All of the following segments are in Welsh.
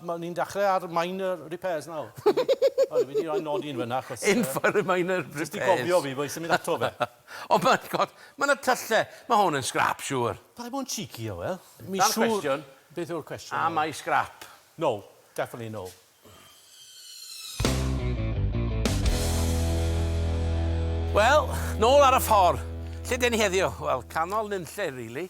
Mae ni'n dechrau ar minor repairs nawr. O, fi wedi rhoi nodi yn fyna, achos... In for a minor repairs. Jyst i gofio fi, bo' i symud ato fe. O, ma' God, ma' 'na tyllau. Ma' hwn yn scrap, siŵr. Paid bod yn cheeky, Ewel. Mi siŵr... Dyna'r cwestiwn. Beth yw'r cwestiwn? Am ai scrap? No. Definitely no. Wel, nôl ar y ffordd. Lle 'den ni heddiw? Wel, canol nunlle, rili.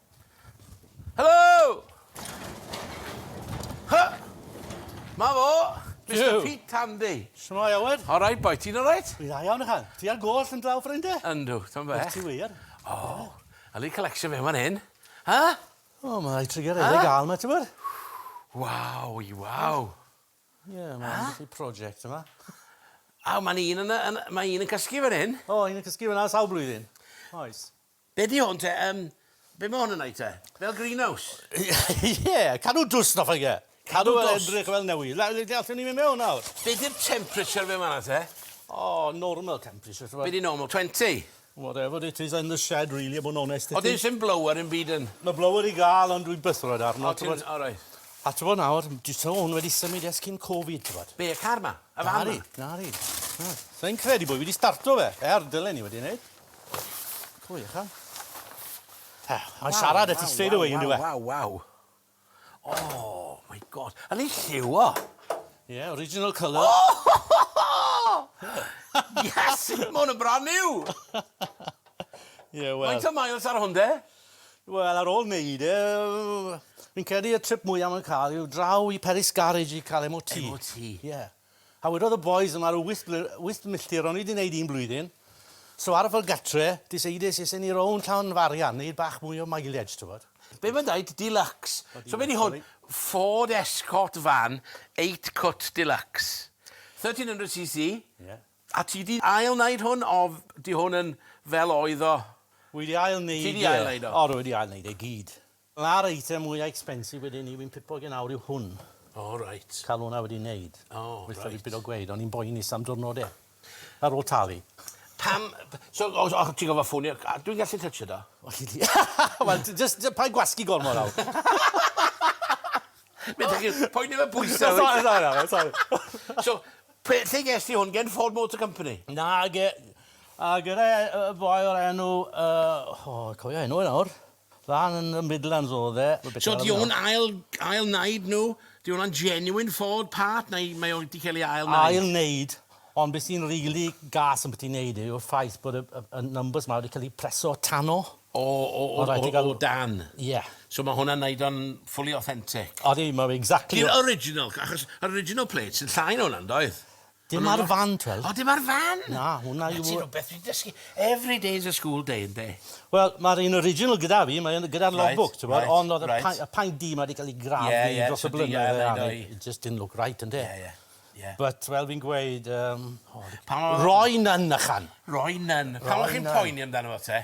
Helo! Hy! Ma fo! Mister Pete Tandy. Shwmae Aled? Alright boi, ti'n alright? Dwi'n dda iawn ychan. Ti ar goll yn draw ffrinde? Yndw, t'am beth. Wyt ti wir? O! Al i collection fe fan hyn. Ha? O, ma rai trigger rili Hy? gal ma t'mod? Waw i waw. Ie, ma Hy? ambell i project yma. Aw, ma'n un yn y yn y ma un yn cysgu fan hyn. O, un yn cysgu fan 'na sawl blwyddyn? Oes. Be di hwn te? Yym, be ma' hwn yn neud te? Fel greenhouse? Ie, cadw dwst off e ie. Cadw dwst? Cadw e edrych fel newydd. La- le- allwn ni myn' mewn nawr? Be di'r temperature fe ma' 'na te? O, normal temperature t'mod? Be di normal, twenty? Whatever it is in the shed really a bo' yn onest 'da ti. O dim sim blower 'im byd yn? Ma' blower i ga'l ond dwi'n byth rhoid e arno t'mod? O ti'n, o reit. A t'bo' nawr, dwi t'mo' hwn wedi symud ers cyn Covid t'bod? Be', y car 'ma? Y fan 'ma? Nari, nari. Na. Sai'n credu bo' fi 'di starto fe, er dylen i wedi neud. Pwy ych am? Ta, mae'n siarad at i straight away yn diwe. Waw, waw, waw. Oh, my god. Yn ei lliw o. Ie, yeah, original colour. Oh! yes, mae hwn yn brand new. Ie, yeah, wel. Mae'n ta miles ar hwn de? Wel, ar ôl wneud e, fi'n credu y trip mwyaf mae'n cael yw draw i Peris Garage i cael MOT. MOT? Ie. Yeah. A wedodd y bois yma ryw wyth bly- wyth milltir o'n i 'di neud un blwyddyn, so aros fel gatre, decidais isen ni rownd Llan Farian, neud bach mwy o mileage t'wbod. Be' mae'n deud? Deluxe. So be' 'di hwn? Ford Escort van eight cut deluxe. Thirteen hundred cc. Ie. A ti 'di ail neud hwn o f- 'di hwn yn fel oedd o? Wi 'di ail neud e. Ti 'di ail neud o? O rwy 'di ail neud e gyd. Na'r eitem mwya expensive wedi ni, fi'n pipo gen awr yw hwn. O reit. Ca'l hwnna wedi neud. O reit. Gweitha fi pido gweud o'n i'n boenus am dwrnod e. Ar ôl talu. Pam b- so o o ti'n gorfod ffonio a dwi'n gallu tytsio do? O chi di wel ti jyst jy- paid gwasgu gormod nawr. Be' dych chi'n poeni fy pwyse fi? Sori sori nawr sori. So pe- lle ges ti hwn gen Ford Motor Company? Na ge- yy gyda yy boi o'r enw yy o cofio enw e nawr. Lan yn y Midlands odd e. So 'di o'n ail ail naid nhw? 'Di hwnna'n genuine Ford part neu mae o 'di cael ei ail naid? Ail naid ond be sy'n rili gas ambyti naid e yw'r ffaith bod y y y numbers 'ma wedi cael eu preso tano. O o o o o dan? Ie. So ma' hwnna'n neud o'n fully authentic? Odi ma' fe exactly o-... Di'r original achos yr original plates yn llai na hwnna yndoedd? Dim ar y fan t'wel'. O dim ar fan? Na hwnna yw... 'Na ti rwbeth fi 'di dysgu. Every day is a school day ynde? Wel ma'r un original gyda fi mae yn y gyda'r log book t'mod ond o'dd y pai- y paent du 'ma 'di ca'l 'i grafu dros y blynydde a ni it just didn't look right ynde? Ie ie. Ie. But fel fi'n gweud yym o... Pan o-... Roy Nunn ychan. Roy Nunn. Pan o' chi'n poeni amdano fo te?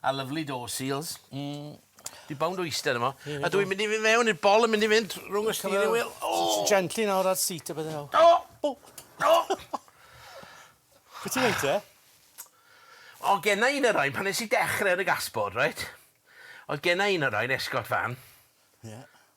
A lyfli do, seals. Mm. Fi bownd o eiste arno fo. A dw i'n mynd i fyn' mewn i'r bol yn mynd i fynd rwng y steering wheel. O! Gently nawr ar seat a bydde nawr. O! O! O! Be' ti'n neud te? O genna un o rain pan nes i dechre yn y gasboard reit? O'dd genna un o rain escort fan. Ie.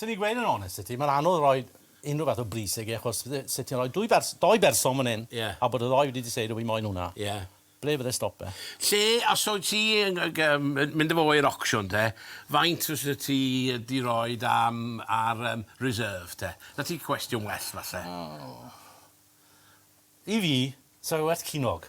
Swn i'n gweud yn onest 'da ti, mae'n anodd rhoi unrhyw fath o bris ag e, achos fydde... se ti'n rhoi dwy bers- dou berson fan hyn... Ie. ...a bod y ddou wedi diseidio bo' fi moyn hwnna... Ie. ...ble fydde stop e? Lle, os wyt ti yn g- g- yym yn mynd â fo i'r auction te, faint fyse ti yy 'di roid am ar yym reserve te? 'Na ti cwestiwn well falle. O. I fi, sa fe werth cinog.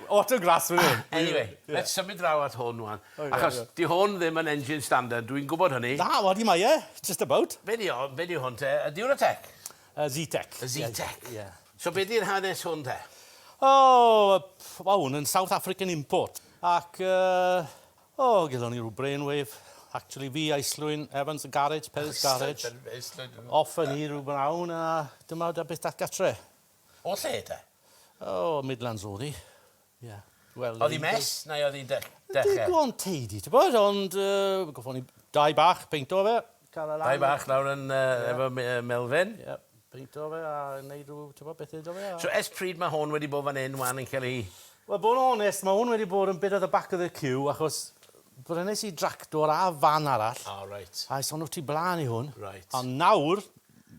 Autographs fan hyn! Anyway, let's symud draw at hwn ŵan. Achos, 'di hwn ddim yn engine standard, dwi'n gwybod hynny. Na, odi mae e, just about. Be 'di o, be 'di hwn te, y Duratec? Y Zetec. Y Zetec. Ie. So be 'di'r hanes hwn te? O, ma' hwn yn South African import. Ac yy, o, gelon ni rw brainwave. Actually fi, Islwyn, Evans a Garage, Perry's Garage. Islwyn, Evans a Garage. Offer ni rw bnawn a dyma da beth dath gatre. O lle te? O Midlands odd 'i. Ie. Wel... Odd 'i mess neu odd 'i'n dech- deche? Digon tidy t'bod ond yy goffon ni dau bach peinto fe ca'l e lan... Dau bach lawr yn yy... Ie. ...efo me- yy melfen. Ie peinto fe a neud rw t'bo' pethe 'do fe a... So ers pryd ma' hon wedi bo' fan 'yn ŵan yn ca'l 'i... Wel bo' yn onest ma' 'wn wedi bod yn bit at the back of the queue achos brynes i dractor a fan arall. O reit. A es hwnnw tu bla'n i hwn. Reit. A nawr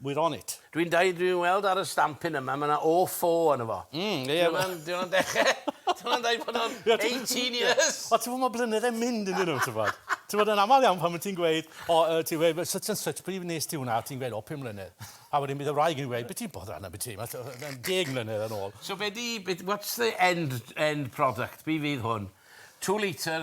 we're on it. Dwi'n dweud, dwi'n weld ar y stampyn yma, mae yna O four arno fo. Mm, ie. Dyw hwnna'n dechrau, dyw hwnna'n dweud bod nhw'n 18 years! Wel, ti'n gwybod, mae blynyddau'n mynd ynddyn nhw, ti'n gwybod. Ti'n gwybod, yn aml iawn pan wyt ti'n gweud, o, ti'n gweud, such and such, pryd wnes ti hwnna, ti'n gweud, o, pum mlynedd. A wedyn bydd y wraig yn gweud, be ti'n boddran am y ti, mae'n deg mlynedd yn ôl. So be di, what's the end, end product, be fydd hwn? Two litre,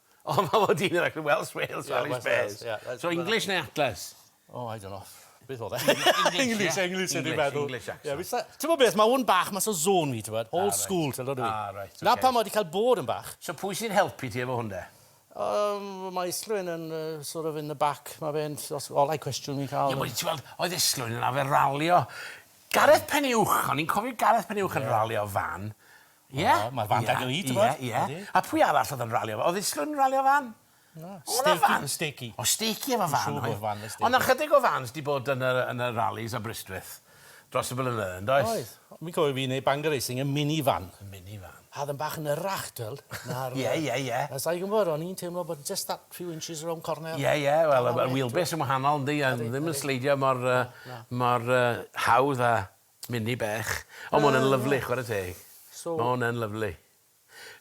O ma' fo dyn ifanc yn Welsh Wales yeah, Welsh Wales. Yeah, that's, so English neu Atlas? Oh, I don't know. Beth oedd e? English, English, English, meddwl. English accent. Yeah, Ti'n bod beth, mae hwn bach mas o zôn fi, ti'n bod? Old ah, school, ti'n dod i fi. Ah, right, okay. Na pan mae wedi cael bod yn bach. So pwy sy'n helpu ti efo hwn de? Um, mae Islwyn yn uh, sort of in the back. Mae fe'n olau cwestiwn ni'n cael. Ie, yeah, ti'n gweld, oedd Islwyn yn afer ralio. Gareth Peniwch, o'n i'n cofio Gareth Peniwch yn yeah. ralio fan. Ie? O ma'r fan 'da fi t'mod? Ie ie. A pwy arall odd yn rali efo... Odd Islwyn yn rali efo fan? Na. O' 'na fan? Stakey Stakey. O' Stakey efo fan oedd? Dwi'n siŵr bod fan 'da Stakey. O' 'na chydig o fans 'di bod yn y yn y ralis Aberystwyth dros y blynyddoedd yndoes? Oedd. Fi'n cofio fi neud Bangor Racing yn mini van. Yn mini van. A o'dd yn bach yn hirach t'wel'. Na'r... Ie ie ie. A sai'n gwbod o'n i'n teimlo bod jyst that few inches rownd corner. Ie ie wel y y wheel base yn wahanol yndi a ddim yn sleidio mor yy mor yy hawdd a Mini bach. Ond ma' 'wn yn lyfli chware teg. So... Ma' 'wn yn lyfli.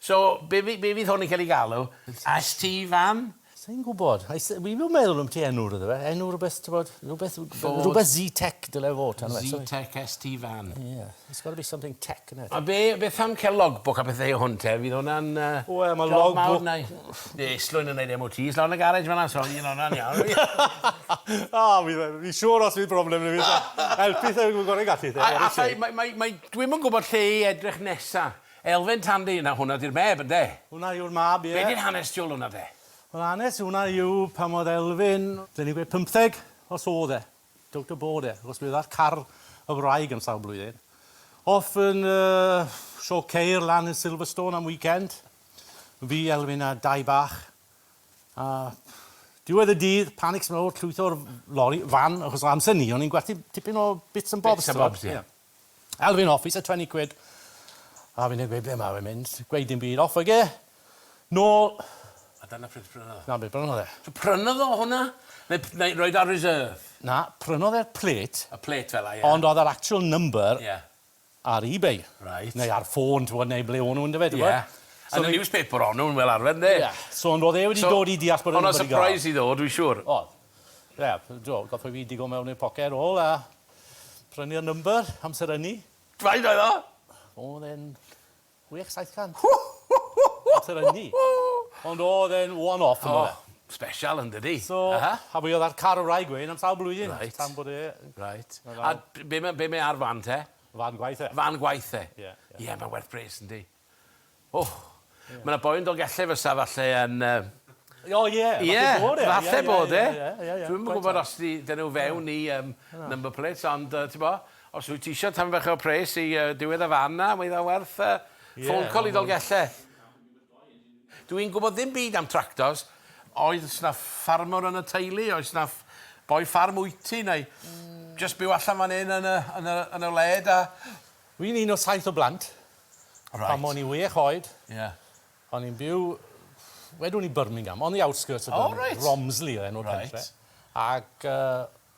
So be' fy- be' fydd hwn yn ca'l 'i galw? ST fan? Sai'n gwbod. I s- wi ddim meddwl ambyti enw iddo fe. Enw rwbeth t'bod rwbeth w- Ford. Rwbeth Zetec dyle fod tan nesa 'ny. Zetec ST fan. Ie. It's gotta be something tech, innit? A be' beth am ca'l logbook a pethe o hwn te fydd wnna'n yy... Wel ma' logbook... ...job mawr neu? Ie, Islwyn yn neud MOTs lawr yn y garej fanna, so un onna'n iawn. O, fi, fi siŵr os bydd problem i fi. Helpu thai, fi'n gorau gallu thai. A, a thai, mae, mae, mae, dwi'm yn gwybod lle i edrych nesa. Elfen Tandy yna, hwnna di'r meb, ynde? Hwnna yw'r mab, ie. Be di'r hanes tu ôl hwnna de? Wel, hanes hwnna yw pan oedd Elfyn, dyn ni'n gweud pymtheg, os oedd e. Don't abort e, achos bydd ar car y wraig am sawl blwyddyn. Off yn uh, Sio Ceir lan yn Silverstone am weekend. Fi, Elwyn a dau bach. A diwedd y dydd, panics mawr, llwytho'r lori, fan, achos o amser ni, o'n i'n gwerthu tipyn o bits and bobs. Bits and bobs, ie. Elwyn off, he's a 20 quid. A fi'n gweud, ble mae fe'n mynd? Gweud dim byd, off ag e. Nôl. A dyna pryd prynodd e? Na, be prynodd e? So prynodd o hwnna? Neu, neu roed ar reserve? Na, prynodd e'r plate. Y plate fel 'a, ie. Ond oedd yr actual number... Ie. ar eBay. Reit. Neu ar ffôn t'wod neu ble o'n nw on'd yfe t'wod? Ie. So yn y newspaper o'n nw'n fel arfer ynde? Ie. So ond o'dd e wedi dod i deall bod e'n rwbeth i ga'l. So o'dd o'n surprise iddo fo dwi siŵr. O'dd. Ie p- do gath o fi digo mewn i'r poced ôl a prynu'r number amser ynny. Faint oedd o? O'dd e'n Chwech saith can. Hw! Hw! Hw! Hw! Amser ynni. Ond oedd e'n one off yn do fe? O! Special yn dydi? So, a fi oedd ar car y wraig wedyn am sawl blwyddyn. Reit. Tan bod e... Reit. A be' ma' be' mae ar fan te? Fan gwaith e. Fan gwaith e? Ie. Ie mae'n werth pres yndi? O! Ma' 'na boi yn Dolgellau fysa falle yn yy... O ie! Ie! Falle bod e. Falle bod e. Ie ie ie. Dwi'm yn gwbod os 'di 'dyn nw fewn i yym number plates ond yy t'bo? Os wyt ti isio tam fach o pres i yy diwedd y fan 'na, mae dda werth yy ffôn call i Ddolgelle. Dw i'n gwybod ddim byd am tractors. Oes 'na ffarmwr yn y teulu? Oes 'na boi ffarm wyt ti neu jyst byw allan fan 'yn yn y yn y yn y wled a... Dw i'n un o saith o blant. Reit. Pan o'n i wech oed... Ie. ...o'n i'n byw wedwn i Birmingham on the outskirts of Birmingham. O reit. Romsley oedd enw'r pentre. Reit. Ac yy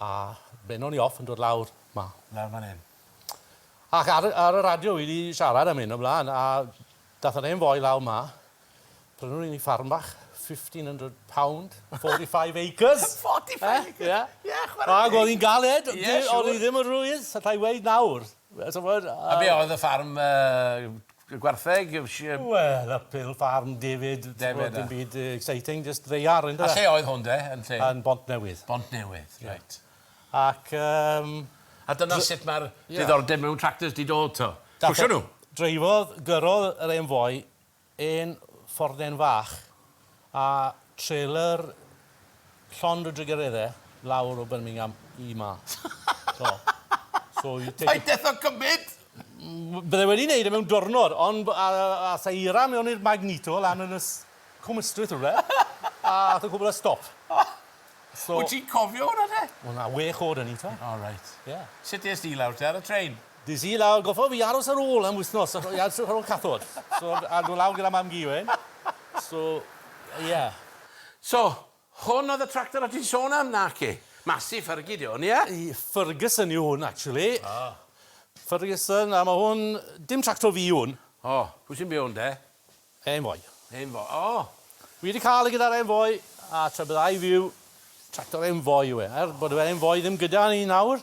A benno ni off yn dod lawr 'ma, lawr fan 'yn. Ac ar y ar y radio wi 'di siarad am 'yn o bla'n a dath yr hen foi lawr 'ma, prynwn i ni ffarm bach, £1,500, 45 acres! 45 acres! Ie. Ie chwara teg. Ag o'dd 'i'n galed. Ie siŵr. O'dd 'i ddim yn rwydd, allai weud nawr. Wel t'mod a... A be' oedd y ffarm yy gwartheg yy sh-... Wel y pil ffarm David... David a... Dim byd yy exciting jyst ddaear on'd yw e? A lle oedd hwn 'de yn lle? Yn Bontnewydd. Bontnewydd reit. Ac yym... A dyna sut ma'r diddordeb mewn tractors 'di dod 'to? Cwsio nw? Dreifo gyrrodd yr hen foi Hen fordden fach a trelor llond o drugaredde lawr o Birmingham i 'ma. So, so you take a... Paid deffo cymyd! Bydda i wedi neud e mewn dwrnod, ond a- a- a- asa i eira mewn i'r Magneto lan yn y s- Cwm Ystwyth rywle, a ath y cwbl a stop. So... Wyt ti'n cofio hwnna te? Wel na, wech o'd o'n i t'mo'. O reit. Ie. Sut es di lawr te, ar y trên? Dydd Sul a goffa fi aros ar ôl am wythnos a- i edrych ar ôl cathod. So a do' lawr gyda mam gi wedyn. So ie. So, hwn oedd y tractor o' ti'n sôn am, naci? Massive Fergie 'di hwn, ie? Y Ferguson yw hwn actually. O. Ferguson a ma' hwn, dim tractor fi yw hwn. O, pwy sy'n byw ynde? Hen foi. Hen foi. O! Fi wedi cael e gyda'r hen foi, a tra byddai fi yw tractor hen foi yw e. Er bod yr hen foi ddim gyda ni nawr,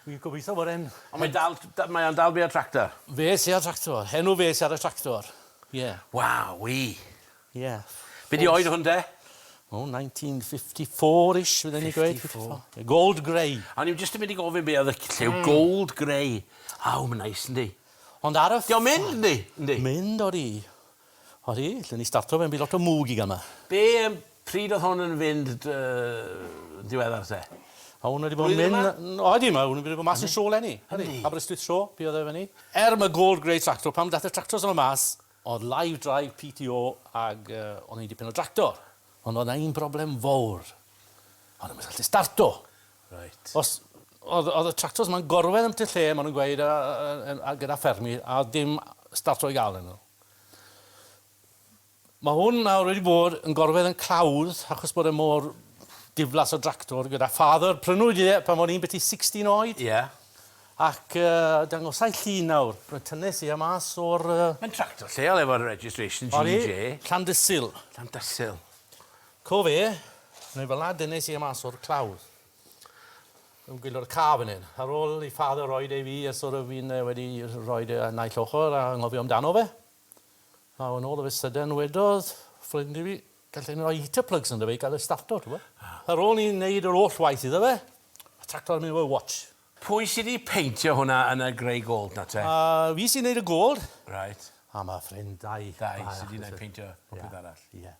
fi'n gobeithio bod e'n... Ond mae dal, mae o'n dal bia'r tractor? Fe sy â'r tractor. Hen o fe sy ar y tractor. Ie. Wowee! Ie. Be di oed hwn de? O, 1954-ish, fydden ni'n gweud. 54. Gold grey. O'n i'm jyst yn mynd i gofyn be oedd y lliw, gold grey. Aw, mae'n neis, yndi? Ond ar y ffin... Di o'n mynd, yndi? Yndi. Mynd, odi. Odi, lle ni starto fe yn by lot o mwg i gama. Be yym pryd oedd hwn yn fynd dy- yn diweddar te? O hwn wedi bod yn mynd... Blwyddyn yma? Odi ma' hwn wedi bod mas yn sho lenni. Yndi? Aberystwyth sho be oedd e fynny? Er ma' gold grey tractor pan dath y tractors yma mas oedd live drive PTO ag yy o'n i dipyn o dractor ond oedd na un broblem fowr. O'n i'm yn gallu starto. Reit. Os, oedd, oedd y tractors ma'n gorwedd yn y lle, maen nhw'n gweud, a, a, a, a, gyda ffermi, a dim staff trwy gael yn nhw. Mae hwn nawr wedi bod yn gorwedd yn clawdd achos bod e mor diflas o dractor gyda father. Prynwyd e pan o'n i'n beti 16 oed. Ie. Yeah. Ac uh, dangosau llun nawr, mae'n tynnes i am as o'r... Uh... Mae'n tractor lleol efo'r registration GJ. Llandysil. Llandysil. Co fe, neu fel 'na dynes i e mas o'r clawdd. Yn gwylio'r car fan hyn. Ar ôl i Father roid e i fi a sort of fi'n yy wedi roid e y naill ochr a anghofio amdano fe. A wen all of a sudden wedodd ffrind i fi gallai ni roi heater plugs ynddo fe i ga'l e starto t'bo'. Ar ôl i ni neud yr holl waith iddo fe, ma' tractor yn mynd efo watch. Pwy sy 'di peintio hwnna yn y grey gold 'na te? A fi sy'n neud y gold. Reit. A ma' ffrind dau. Dau sy 'di neud peintio popeth arall. Ie.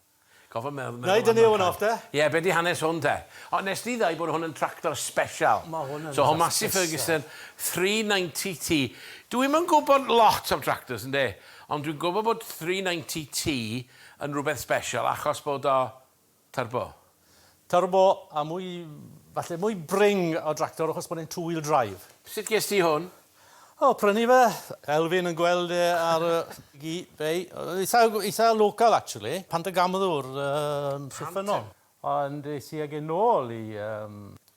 Gorfod meddwl am... Neud y new one off de? Ie, be di hanes hwn te? O, nes di ddau bod hwn yn tractor special. Ma hwn yn... So hwn mas i Ferguson, 390T. Dwi ddim yn gwybod lot am tractors ynde, ond dwi'n gwybod bod 390T yn rhywbeth special achos bod o turbo. Turbo a mwy, falle mwy bring o dractor achos bod e'n two wheel drive. Sut ges ti hwn? O, prynu fe. Elfyn yn gweld e ar y gi fei. Eitha, eitha local actually. Pantygamddwr yn Rhuffynnon. Ond es i ag e nôl i yym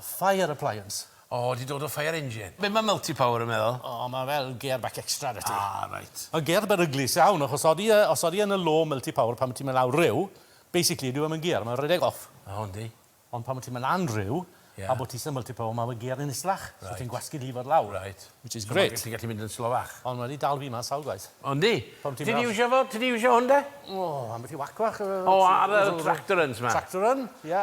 Fire appliance. O, 'di dod o fire engine. Be ma multi power yn meddwl? O, ma fel gear back extra 'da ti. Ah, reit. Ma'n gear beryglus iawn, achos odi e, os odi e yn y low multi power pan ma ti'n mynd lawr rhyw, basically dyw e 'im yn gear, ma'n rhedeg off. O, yndi. Ond pan ma ti'n mynd lan rhyw, a bo ti isie multi power, ma fe gear yn islach. Reit. So ti'n gwasgu llifodd lawr. Reit. Which is great. So ma ti'n gallu mynd yn slowach. Ond ma di dal fi mas sawl gwaith. O, yndi? Pan ti'n mynd lawr. Ti 'di iwsio fo? Ti 'di iwsio hwn 'de? O, ambell i whack fach. O, ar y tractor runs 'ma. Tractor run, ie.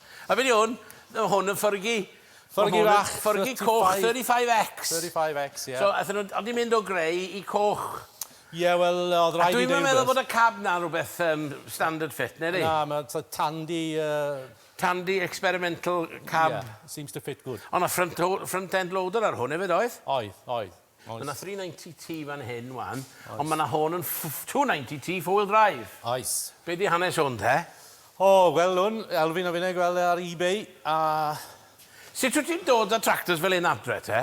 A be di hwn? O hwn yn ffyrgi. Ffyrgi fach. Ffyrgi coch 35X. 35X ie. So aethon nhw, oedd hi'n mynd o greu i coch. Ie wel oedd rhaid i fi... A dwi'm yn meddwl bod y cab na'n rhywbeth yym standard fit na ydi? Na ma' t- tandy yy... Tandy experimental cab... Ie seems to fit good. O' na front lo- front end loader ar hwn efyd oedd? Oedd oedd. Oes. Ma' 'na three ninety T fan hyn ŵan. Oes. Ond ma' 'na hon yn ff- two ninety T four wheel drive. Oes. Be' 'di hanes hwn te? O, wel 'wn, Elfyn a finne gweld e ar eBay a... Sut wt ti'n dod â tractors fel 'yn adre te?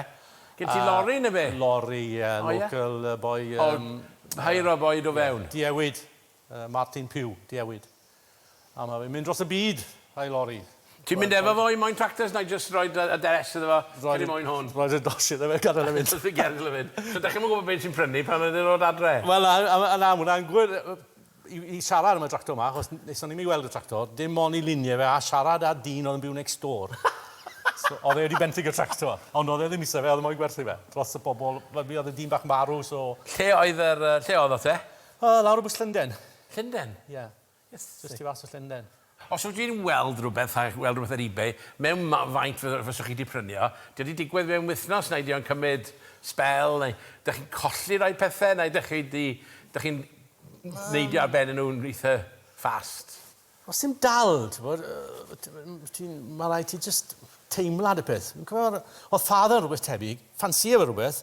Gen ti lorri ne' be'? Lorri, ie. O ie? Local yy boi yym... O, hire a boi do fewn? Ie, diewid. Yy Martin Pugh, diewyd. A ma fe'n mynd dros y byd a'i lori. Ti'n mynd efo fo i Moyn Tractors na'i jyst roi dy aderes iddo fo cyn i Moyn hwn? Roi dy dos iddo fe gadel e fynd. Dos fi gadel e fynd. So dach chi'm yn gwybod be ti'n prynu pan maen nhw'n dod adre? Wel na, a ma na, ma hwnna'n gwir i i siarad am y tractor ma achos nes o'n i'm i weld y tractor, dim ond i lunie fe a siarad â dyn oedd yn byw next door. So oedd e wedi benthyg y tractor, ond oedd e ddim isie fe oedd e moyn gwerthu fe dros y pobol, wel mi oedd y dyn bach yn marw so... Lle oedd yr yy lle oeddoch te? O, lawr o bwys Llunden. Llunden? Ie. Yes. Jyst tu fas o Llunden. Os wyt ti'n weld rhywbeth, a weld rhywbeth ar ebay, mewn faint fyswch chi 'di prynu o, 'di o 'di digwydd mewn wythnos, neu 'di o'n cymryd sbel, neu 'dych chi'n colli rhai pethe, neu 'dych chi 'di, 'dych chi'n neidio ar ben y nhw yn eitha fast? Os ti'n dal, t'mod, ti'n, ma' raid ti jyst teimlad y peth. Fi'n cofio, o'dd father yn rwbeth tebyg, ffansïo fe rwbeth,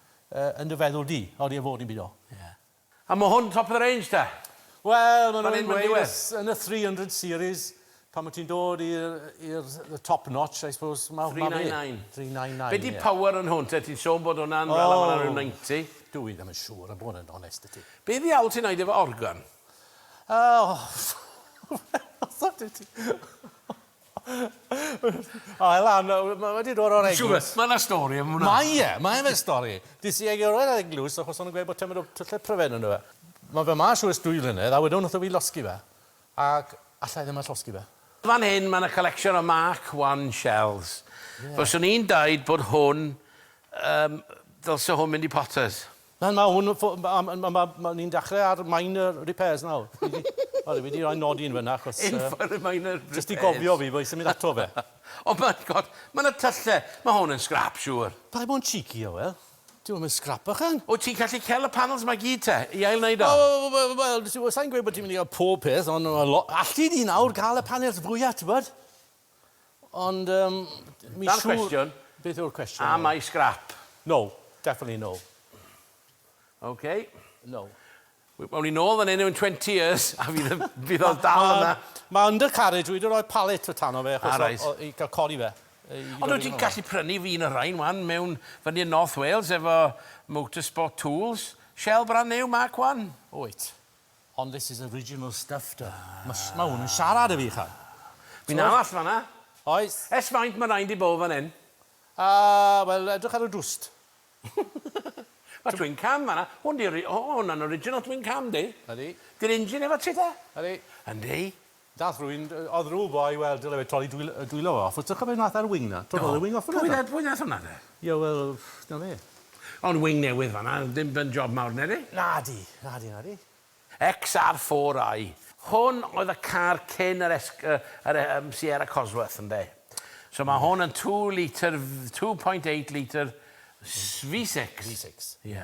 yn dy feddwl di. Oddi ar fod yn byd o. Ie. A ma hwn top of the range te? Wel ma nhw'n gweud yn y 300 series pan ma ti'n dod i'r top notch I suppose. 399. 399. Be di power yn hwn te? Ti'n sôn bod hwnna'n fel ma na rhyw 90? Dw i ddim yn siŵr a bod yn onest i ti. Be ddiawl ti'n neud efo organ? O! O, Elan, mae wedi dod o'r eglwys. Mae yna stori am hwnna. Mae e, mae efe stori. Dis i egio'r o'r eglwys achos o'n gweud bod tymor o tyllau pryfed yn dweud. Mae fe mas o'r ysdwy flynedd a wedyn wnaethon fi losgi fe. Ac alla i ddim allosgi fe. Fan hyn mae yna collection o Mark I shells. Fyswn i'n dweud bod hwn, ddylse hwn mynd i Potters. Na, mae hwn... Ni'n dechrau ar minor repairs nawr. Sori, fi 'di rhoi nodyn fyna achos... In for a minor repairs. Jyst i gofio fi bo' i symud ato fe. O my God! Ma' 'na tyllau! Ma' hwn yn scrap siŵr. Paid bod yn cheeky, Owel. Dyw e ddim yn scrap bychan. Wyt ti'n gallu cael y panels 'ma i gyd te, i ail-wneud o? O, wel, sai'n gweud bod ti'n mynd i gael pob peth, ond alli di nawr gael y panels fwya, tibod? Ond yym mi siŵr... Na'r cwestiwn. Beth yw'r cwestiwn nawr? Am I scrap? No. Definitely no. Ok. No. Wel awn ni nôl fan hyn mewn twenty years a fydd y... fydd o dal yna. Mae Undercarriage wedi rhoi pallet o tano fe achos... O reit. ...o- o- i ga'l codi fe. Ond wyt ti'n gallu prynu un o rhain wan mewn... fyny yn North Wales efo Motorsport Tools. Shell brand new Mark One. Wyt. Hon this is original stuff da. Ma ma hwn yn siarad i fi cha. Fi'n arall fanna. Oes. Ers faint ma rain di bo fan hyn? Ah wel edrych ar y dwst. Ma twin cam fanna. Hwn di ori- o hwnna'n original twin cam di. Ydi. Di'r engine efo ti ta? Ydi. Yndi. Daeth rhywun o Ddrwbo i weld y lefydd troli dwylo fo off. Wyt ti'n cofio un ath ar wing 'na? Do. Torrodd y wing off yna do? Pwy ddath pwy ddath yna de? Ie wel, 'na fe. Ond wing newydd fanna, dim yn job mawr nadi? Nadi, nadi, nadi. XR4i. Hwn oedd y car cyn yr es- yy yr yym Sierra Cosworth ynde? So ma' hwn yn two litre f- two point eight litre s- V six. V six. Ie.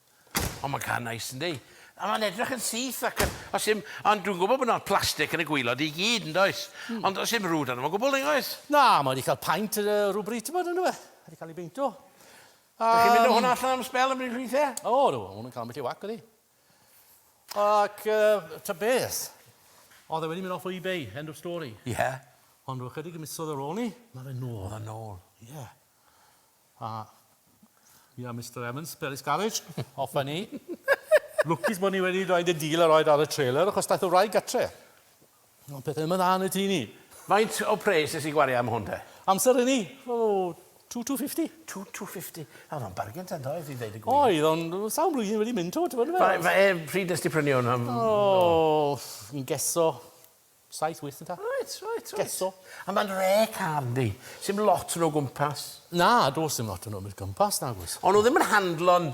O, mae'n cael nice, yndi? A mae'n edrych yn syth ac yn... Os dim... Ond dwi'n gwybod bod yna plastig yn y gwylod i gyd, yn does? Mm. Ond os dim rwyd arno fo gwbl, neu oes? Na, mae wedi cael paint uh, rhywbryd, ti'n bod, yn dweud? Mae wedi cael ei beintio. Um, Dych chi'n mynd o hwnna allan am spel yn bryd ffeithiau? O, oh, no, hwnna'n cael ambell i wac, ydi. Ac, uh, ta beth? Oedd e wedi mynd off o eBay, end of story. Ie. Yeah. Ond rwy'n chydig yn misodd ar ôl ni, mae fe nôl. Mae fe nôl. Ie. Yeah. A fi a Mister Evans, Peris Garage, off a ni. Lwcus bod ni wedi rhoed y dil a rhoed ar y trailer, achos daeth y wraig gatre. Ond pethau ddim yn dda yn y tŷ ni. Faint o pres nes i gwario am hwn te? Amser hynny? O, two two fifty. Two two fifty. Oedd o'n bargen te yndoedd, i ddeud y gwir. Oedd, ond sawl blwyddyn wedi mynd to, ti'n gwybod? Pryd nes ti prynu hwn? O, yn geso Saith wyth yn ta? Reit reit reit. Geso. A ma'n re car yndi? Sim lot yn o gwmpas. Na do's dim lot yn o mynd gwmpas nag oes. O'n nhw ddim yn handlo'n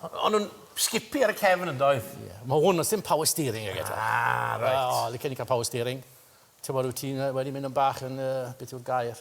o'n nhw'n sgipi ar y cefn yn doedd? Ie. Ma' hwn o's dim power steering ag e ta. Ah reit. O licen i ca'l power steering. T'mod wyt ti'n yy wedi mynd yn bach yn yy beth yw'r gair?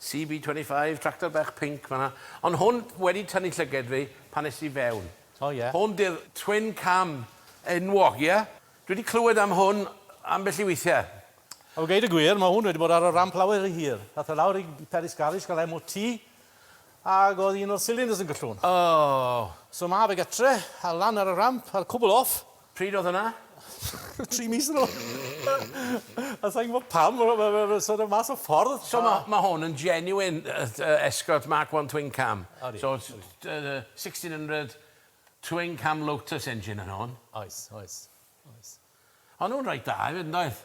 CB25, tractor bach pinc fan'na. Ond hwn wedi tynnu llyged fi pan es i fewn. O ie? Hwn 'di'r twin cam enwog, ie? Dwi 'di clywed am hwn ambell i weithie. Wel geud y gwir, ma' hwn wedi bod ar y ramp lawer ry hir. Ath e lawr i Peris Garis ga'l MOT ag o'dd un o'r silinders yn gyllwn. O! So ma' fe gytre a lan ar y ramp a'r cwbwl off. Pryd oedd hwnna? Tri mis yn ôl. A sa i'n gwybod pam, mae'n sort of mas o ffordd. So mae hwn yn genuine Escort Mark 1 Twin Cam. So 1600 Twin Cam Lotus engine yn hwn. Oes, oes, oes. Ond nhw'n reit dda hefyd, yn doedd?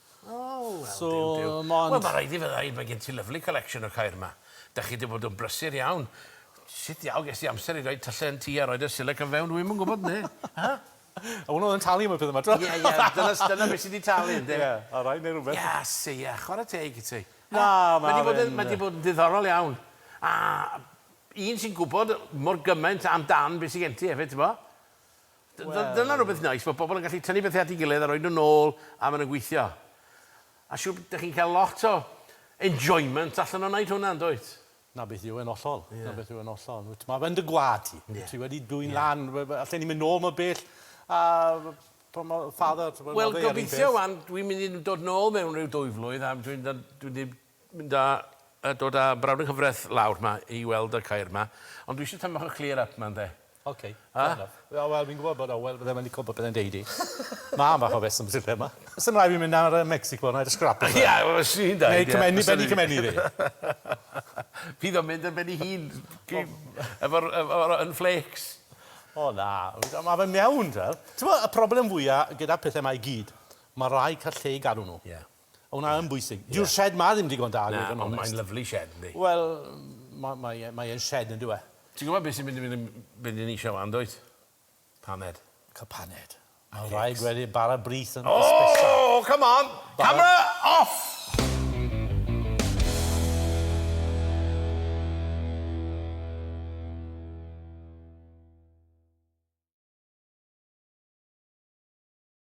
O wel. So mond... Wel ma' raid i fe ddeud mae gen ti lyfli collection o ceir 'ma. 'Dach chi 'di bod yn brysur iawn. Sut ddiawl ges di amser i roid tyllau yn tŷ a roid y silyc yn fewn dwi'm yn gwbod 'ne. Hy? A wnna oedd yn talu am y pethe 'ma 'to. Ie ie dyna s- dyna be' sy 'di talu ynde? Ie a rai neu rwbeth. Gas ie chware teg i ti. Na ma' fe'n yy... Mae 'di bod yn mae 'di bod yn ddiddorol iawn. A un sy'n gwbod mor gymaint am dan be' sy gen ti efyd t'bo? Dyna rhywbeth neis, mae pobl yn gallu tynnu pethau at ei gilydd a rhoi nhw nôl a maen nhw'n gweithio. A siŵr bod chi'n cael lot o enjoyment allan o wneud hwnna, yn dwyt? Na beth yw e'n hollol, na beth yw e'n hollol. Wyt, mae fe'n dy gwlad ti. Wyt ti wedi dwyn lan, allen ni mynd nôl mor bell a pan mae father... Wel, gobeithio wan, dwi'n mynd i dod nôl mewn rhyw dwy flwydd a dwi'n dod, dwi'n Mynd a yy dod a brawd yng nghyfraith lawr 'ma i weld y ceir 'ma. Ond dwi isie tym' bach o clear up 'ma ynde? Ok. Yy? Fair enough. Wel wel fi'n gwbod bod Owel ddim yn lico popeth yn deud 'i. Ma' ambell o reswm sy lle 'ma. S'im rai' fi mynd nawr yy Mexico nawr a scrap e. Ia wel swn i'n deud ie. Neu cymennu ben i cymennu iddi. Fydd o'n mynd yn ben 'i hun gy- efo'r ef- o- yn flêcs. O na. Wel ma' fe'n iawn t'wel'. T'mo' y problem fwya gyda pethe 'ma i gyd ma' rai' ca'l lle i gadw n'w. Ie. O na yn bwysig. Dyw'r shed ma ddim digon da. Na, ond mae'n lyfli shed yndi? Wel, mae e'n shed yn dyw e? Ti'n gwybod beth sy'n mynd i fynd yn be dyn ni eisiau wan dwyt? Paned. Cael paned. Mae'n rhaid gweddi bara brith yn ysbysa. O! Come on! Camera off!